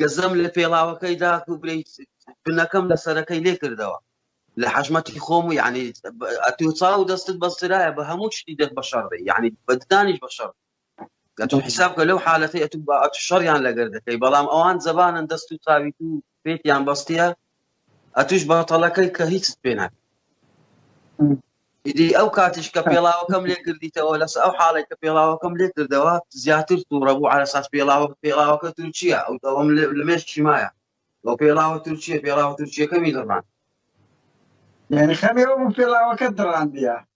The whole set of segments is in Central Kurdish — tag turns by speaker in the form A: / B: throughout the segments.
A: گزم لە پێڵاوەکەی دا و بلەی بنەکەم لە سەرەکەی لێ کردەوە لە حەژمەتی خۆم و یعنی ئەتو چاو دەستت بەسترایە بە هەموو شتی دەست بە شەڕ بێ یعنی بەدانیش بە شەڕ گەتون حساب کە لەو حالەتی ئەتو بە ئەتو شەڕیان لەگەر دەکەی بەڵام ئەوان زەبانن دەست و چاوی و پێتیان بەستە ئەتوش باتەڵەکەی کە هیچت پێ ناکە ئیدی ئەو کاتیش کە پێڵاوەکەم لێ کردیتەوە لەس ئەو حاڵێک کە پێڵاوەکەم لێ کردەوە زیاتر تووڕە بوو ئارەساس پێڵاوە پێڵاوەکە تورکیە ئەو دەوەم لە مێش چیمایە بۆ پێڵاوە تورکیە پێڵاوە تورکیەکەمی دڕان یعنی خەمێەوە بوو
B: پێڵاوەکە دڕاندە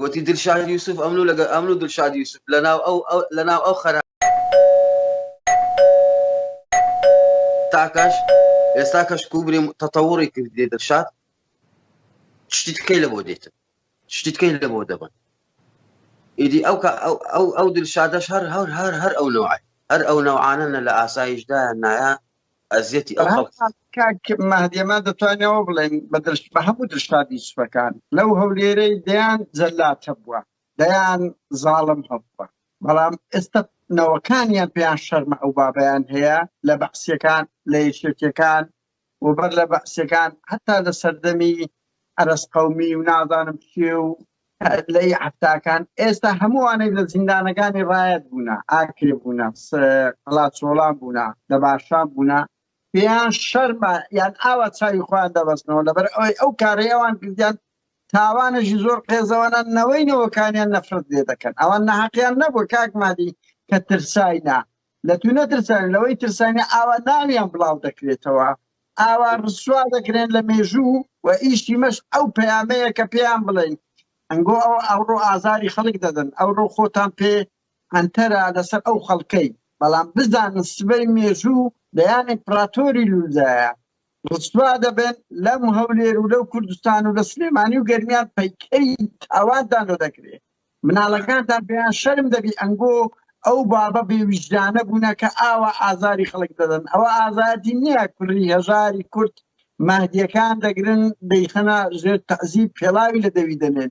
A: گۆتی، دلشاد یوسف، ئەمن و لەگەڵ ئەمن و دلشاد یوسف لەناو ئەو لەناو ئەو خەرا. تاکەش ئێستا کەش کوبری تەتەوڕی کردی دلشاد شتی تکەی لە بۆ دێتن شتی تکەی لە بۆ دەبن ئیدی ئەو ئەو ئەو دلشادەش هەر هەر هەر هەر ئەو نوعی هەر ئەو نەوعانە نە لە ئاسایشدا نایە ئەزیەتی ئەو خەڵک کاک
B: مەهدیەمە دەتوانەوە بڵێن بە درشت بە هەموو درشتادی سوپەکان لەو هەولێرەی دەیان جەلات هەبووە دەیان زاڵم هەبووە بەڵام ئێستا نەوەکانیان پێیان شەرمە ئەو بابیان هەیە لە بەعسیەکان لە یەکێتیەکان و بەر لە بەعسیەکان هەتا لە سەردەمی ئەرس قومی و نازانم چێ و لەی حەفتاکان ئێستا هەمووانەی لە زیندانەکانی ڕایەت بوونە ئاکرێ بوونە قەڵاچۆڵان بوونە دەباشان بوونە پێیان شەرمە یان ئاوا چاوی خۆیان دەبەستنەوە لەبەر ئەوەی ئەو کارەی ئەوان کردیان تاوانێکی زۆر قێزەوەە نەوەی نەوەکانیان نەفرەت لێ دەکەن ئەوان نەحەقیان نەبوو کاکمادی کە ترساینا لە تو نەترسن لەوەی ترسانی ئاوا ناویان بڵاو دەکرێتەوە ئاوا ڕسوا دەکرێن لە مێژوو و ئیشی مەش ئەو پەیامەیە کە پێیان بڵێن ئەنگۆ ئەو ئەوڕۆ ئازاری خەڵک دەدەن ئەوڕۆ خۆتان پێ ئەنتەرە لەسەر ئەو خەڵکەی بەڵام بزانن سبەی مێژوو دەیان ئیمپراتۆری لوولدایە ڕسوا دەبن لەم هەولێر و لەو کوردستان و لە سلێمانی و گەرمیان پەیکەری تاوانتان دەدەکرێت مناڵەکانتان پێیان شەرم دەبی ئەنگۆ ئەو بابە بێ ویژدانە بوونە کە ئاوا ئازاری خەڵک دەدەن ئەوە ئازادی نییە کوری هەژاری کورد مەهدیەکان دەگرن دەیخەنە ژێر تەعزیب پێڵاوی لە دەوی دەنێن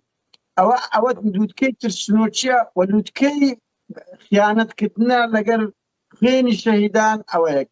B: ئەوە ئەوە لووتکەی ترسنۆچیە و لووتکەی خیانەتکردە لەگەر خوێنی شەهیدان ئەوەیەک